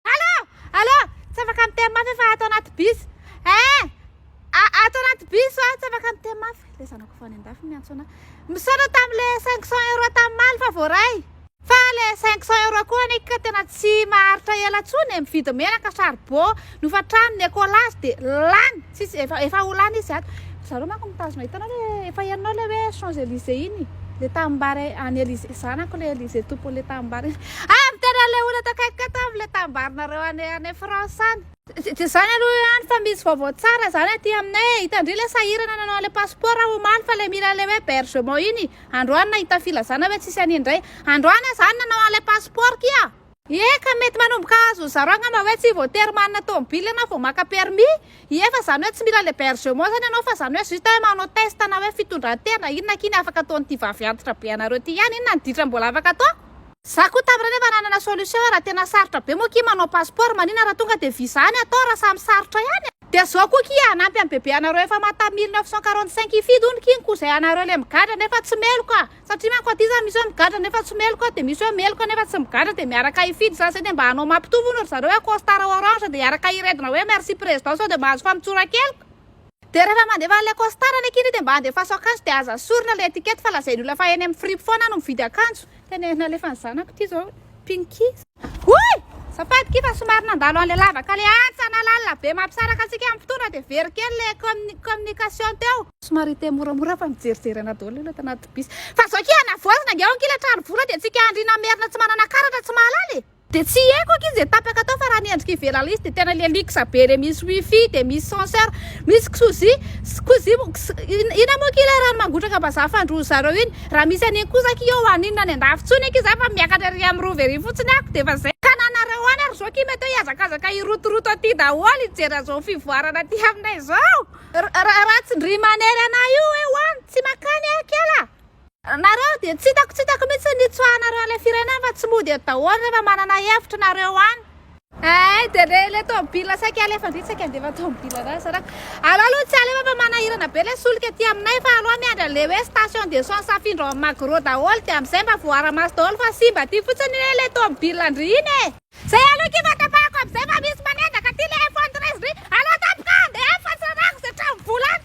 Allô! Allô! Tsy afaka miteny mafy aho fa ato anaty bus. Eh! Ato anaty bus aho, tsy afaka miteny mafy. Le zanako fa any andafy miantso anah. Misaotra tamle 500 euros tamimaly fa voaray. Fa le 500 euros koa anie ka tena tsy maharitra ela tsony e, mividy menaka, charbon, nofatrano, ny écolage dia lany. Tsisy efa efa ho lany izy ato. Ry zareo manko mitazona hitanao le efa hianao le hoe champs Elysées iny le tanimbary any Elysées zanako le Elysées tompony le tanimbary ah miteny anle olona ato akaikiko ato amin le tanimbarinareo any any France any. Tsy izany aloha any fa misy vaovao tsara izany aty aminay e, hitandry ilay sahirana nanao an'ilay passeport omaly fa ilay mila ilay hoe bergement iny, androany nahita filazana hoe tsisy an'iny indray, androany aho izany nanao an'ilay passeport kia. Eka, mety manomboka azo zaro angamba hoe tsy voatery manana tomobily ianao vao maka permis ie fa zany hoe tsy mila l'hebergement zany ianao fa zany hoe juste hoe manao test na hoe fitondran-tena inona akia ny afaka ataon'ity vavy antitra be anareo ty ihany inona ny ditra mbola afaka atao? Za koa tamin'ireny efa nanana solution raha tena sarotra be moa akia manao passeport maninona raha tonga dia visa any atao raha samy sarotra ihany e. Dia zao koa akia hanampy an'i bebe anareo efa mata mille neuf cent quarante cinq hifidy hono king koa zay anareo le migadra nefa tsy meloka. Satria manko aty za misy hoe migadra nefa tsy meloka dia misy hoe meloka nefa tsy migadra dia miaraka hifidy za zay dia mba hanao mampitovy hono ry zareo hoe costard orange dia hiaraka hiredona hoe merci président sao dia mba azo famontsoran-keloka. Dia rehefa mandefa an'ilay costard any aky ry dia mba andefaso akanjo dia aza asorina ilay étiquette fa lazain'ny olona fa eny amin'ny fripe foana aho no mividy akanjo. Tena ery nalefan'ny zanako ity zao. Pinky. Hoy! Zafady kiffa somary nandalo an'ilay lavaka ilay antsa na lalina be mampisaraka antsika amin'ny mpitondra dia very kely ilay commu communication teo. Somary hiteny moramora fa mijerijery anà daholo ilay tanaty bus. Fa zao akia hanavoazina ange ao ankia ilay trano vola dia tsika andriana merina tsy manana karatra tsy mahalala e! Dia tsy haiko akia izay tapaka tao fa raha ny endrika ivelany izy dia tena ilay luxe be ilay misy wifi dia misy censeur misy ksozy, ksozy, ina moa akia ilay rano mangotraka vazaha fandroan-dry zareo iny? Raha misy anie kosa aky eo an inona any andafy tsony aky za fa miakatra ery am rova ery fotsiny ako de efa zay. Tananareo any ary zao kima teo hiazakazaka hirotoroto aty daholo hijery azao fivoarana aty aminay zao. Ra ra tsy ndry manery anah io hoe ho any tsy makany ah kela. Nareo dia tsy hitako tsy hitako mihitsy ny nitsoahanareo an'ilay firenena fa tsy mody eto daholo rehefa manana hevitra nareo any. Eh, dia le le tomobila saika alefa ndry saika andefa tomobila ra zaraka. Alao aloha tsy alefa fa manahirana be le solika aty aminay fa alao miandry an'le hoe station d'essence afindra ao amin'ny Magro daholo dia amin'izay mba voara-maso daholo fa simba aty fotsiny le le tomobila ndry iny e. Zay aloha akia fa tapahako amin'izay fa misy manendaka aty le iPhone 13 ndry. Alao tampoka andeha fa tsy rarako ze tranom-bola any.